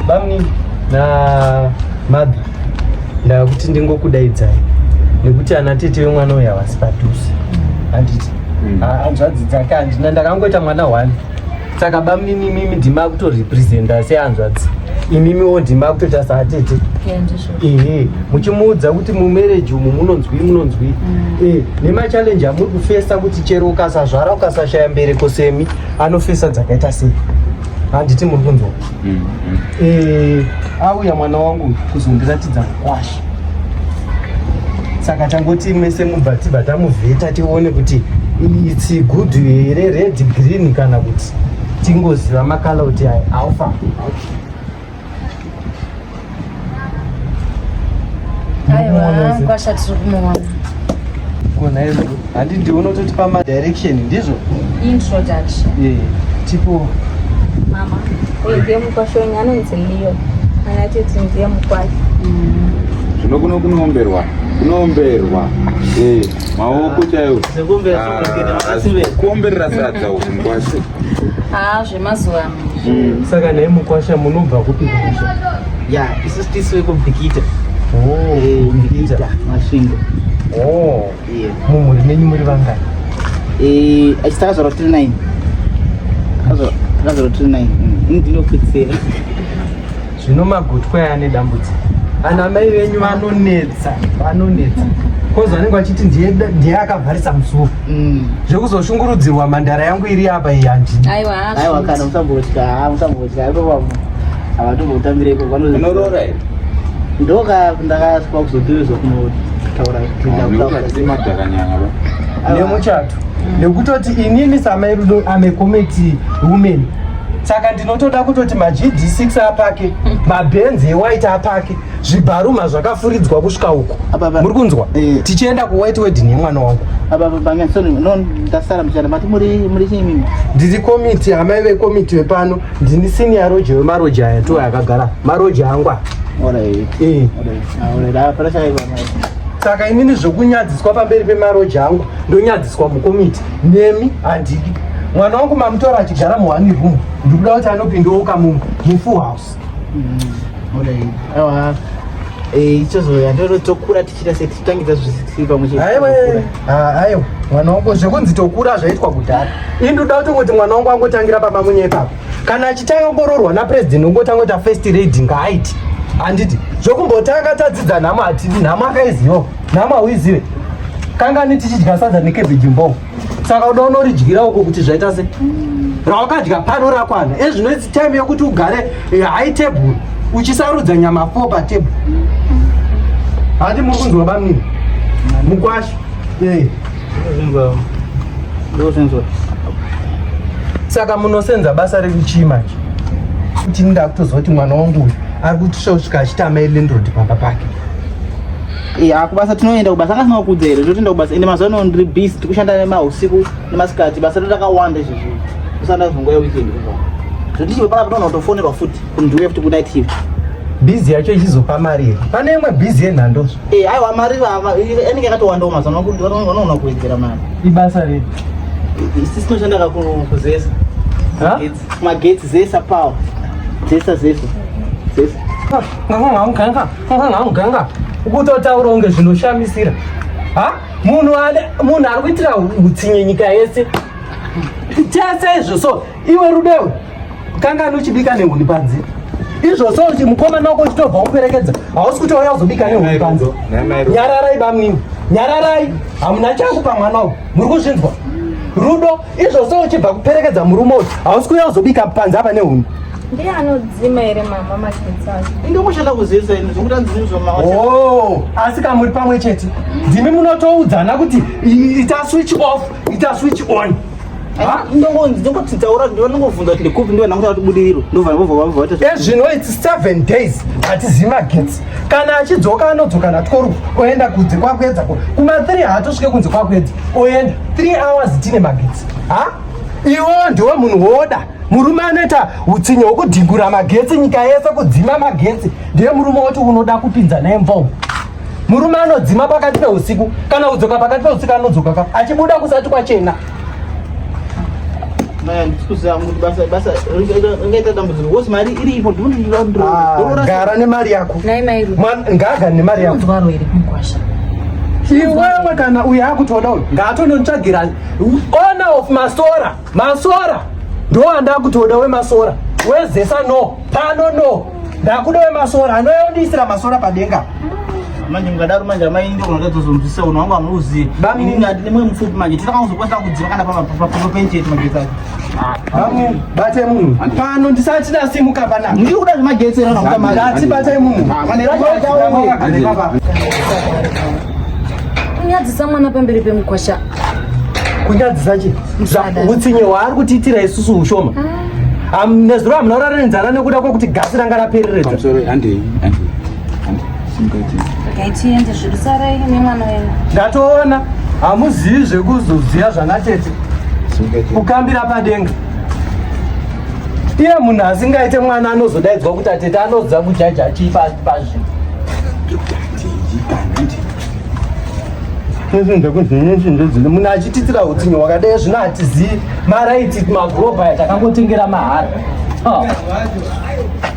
bamni na mabhi ndakuti ndingokudaidzai nekuti ana tete vemwana uyu havasi padhuze handiti hmm. ah, hanzvadzi dzake handina ndakangoita mwana one saka bamnini imimi ndima kutorepresenta sehanzvadzi imimiwo ndima kutoita saatete ehe muchimuudza kuti mumereji umu munonzwii munonzwii hmm. eh, nemachallenji amuri kufesa kuti chero ukasazvara ukasashaya mbereko semi anofesa dzakaita sei handiti muri kunzwa mm, mm. Eh, auya mwana wangu kuzondiratidza kwasha saka tangoti mese mubva tibva tamuvheta tione kuti its good here red green kana kuti tingoziva makala kuti aofa okay. kwasha tiri kumuona kona izvo handi ndiona kutoti pamadirection ndizvo introduction yeah. tipo mama uyu ndiye mukwasha wenyu anonzi leo anatiti ndiye mukwasha mm. zvino kuno kunoomberwa kunoomberwa eh, maoko chaiwo ah, kuomberera sadza uku mukwasha haa ah, zvemazuva ano Mm. Saka naye mukwasha munobva kupi kumusha? Ya, isu tisu wekubikita. Oh, eh, kubikita masvingo. Oh. Yeah. Mumhuri menyu muri vangani? Eh, achitaka zvaro 39. Zvaro 39. Ini ndinopedzera. zvino magotwa aya ane dambudziko ana mai venyu vanonetsa vanonetsa kozi vanenge vachiti ndiye akavharisa musuo mm. zvekuzoshungurudzirwa mandara yangu iri apa iyi handiaiwa kana musambotya musambotya aiwa havatombotamire iko vanoroora iri ndoka ndakaswa kuzotirizwa kunotaura nemuchato nekutoti inini samai rudo amekometi women saka ndinotoda kutoti magd 6 apake mabhenzi ewhite apake zvibharuma zvakafuridzwa kusvika uku muri kunzwa eh. tichienda kuwhite wedding yemwana wangu ndiri komiti amai vekomiti vepano ndini senior roje wemaroje aya to akagara maroje angwa eh. ah, saka inini zvokunyadziswa pamberi pemaroje angu ndonyadziswa mukomiti nemi handidi mwana wangu mamutora achigara muhani room ndikuda kuti anopindouka mu mufull house awa eh, ichozoya ndoo tokura tichita se tichitangidza zvisiri pamwe cheaiwe aiwa mwana wangu zvekunzi tokura zvaitwa kudhara ini ndoda kuti kuti mwana wangu angotangira pamba munye ipapo kana achitanga kungoroorwa napresident ungotanga kuti afirst radi ngaaiti handiti zvokumbotanga tadzidza nhamo hatidi nhamo akaiziwo nhamo hauizive kangani tichidya sadza nekebhi jimbo saka uda unoridyira uko kuti zvaita se rawakadya pano rakwana ezvino its time yokuti ugare eh, high table uchisarudza nyama fo patable hati muri kunzwa bamini mukwasha eh. saka munosenza basa rekuchii manje kuti ndakutozoti mwana wangu uyu ari kutisvosvika achitama elendrod pamba pake ya kubasa tinoenda kubasa anga sinakuudza here totoenda kubasa ende mazuva ano ndiri busy tikushanda nemahusiku nemasikati basa totakawanda izvozvi kusanda zvongo yeweekend zvotichive paka pataona kutofonerwa futi kundiuya futi kunight shift bhizi yacho ichizopa mari here pane imwe bhizi yenhando e eh, aiwa mari anenge yakatowandawo mazuva vanoona kuwedzera mari ibasa rei sisi tinoshanda kakuzesa Magetsi zesa power. Zesa zesa. Zesa. Nganga nganga nganga nganga. Ukutotaura unge zvinoshamisira. Ha? Munhu ale munhu ari kuitira utsinye nyika yese. Tese izvo so iwe rudewe. Kanga anochibika nehuni panze. Izvo so kuti mukoma nako chitobva kuperekedza. Hausi kuti wauya kuzobika nehuni panze. Nyararai bamnini. Nyararai. Hamuna chakupa mwana uyu. muri kuzvinzwa rudo izvo so uchibva kuperekedza murume uyu hausi kuuya uzobika panze apa nehuni ndiye anodzima here mama magetsi acho ndikushata kuzivisa ini zvekuti andizivi oh, asi ka muri pamwe chete ndimi munotoudzana kuti ita switch off ita switch on ndongotaura ndonongovhunza kuti ndikupi ndivananguta kuti budiriro ndovana vovavaita ezvino its seven days hatizivi magetsi kana achidzoka anodzoka natworu oenda kunze kwakuedza kuma 3 haatosvike kunze kwakuedza oenda 3 hours tine magetsi ha iwo ndiwo munhu woda murume anoita utsinye hwokudhingura magetsi nyika yese kudzima magetsi ndiye murume woti unoda kupinza naye mvongo murume anodzima pakati peusiku kana udzoka pakati peusiku anodzoka ka achibuda kusati kwachena gara nemari yako ngaga nemari yako iwewe kana uyo akutoda uyo ngaatonontsvagira owner of masora masora ndo andakutoda wemasora wezesa no pano no Ndakuda wemasora anouya undiisira masora padenga manje mukadaro manje amai ndo kunoda tozomzisa uno wangu amuuzi bami nini ati nemwe mupfupi manje tinoda kuzokwatira kudziva kana pama pama penje yetu magetsi acho bami bate munhu pano ndisati ndasimuka pana ndiri kuda zvemagetsi era nakuta mari ndati bate munhu mane racho ndawo kunyadzisa mwana pamberi pemukwasha kunyadzisa chi utsinye hwaari kutiitira isusu ushoma ah. nezuro hamuna kurara nenzara nekuda kwekuti gasi ranga rapereredza ndatoona hamuzivi zvekuzoziva zvana tete kukambira padenga iye munhu asingaite mwana anozodaidzwa kuti atete anoziva kujaja chii pazvinhu nezvinhu zvekunzi nezvinhu zvezvinhu munhu achititira utsinye wakadai zvino hatizivi maraiti magurobhaya takangotengera mahara ah.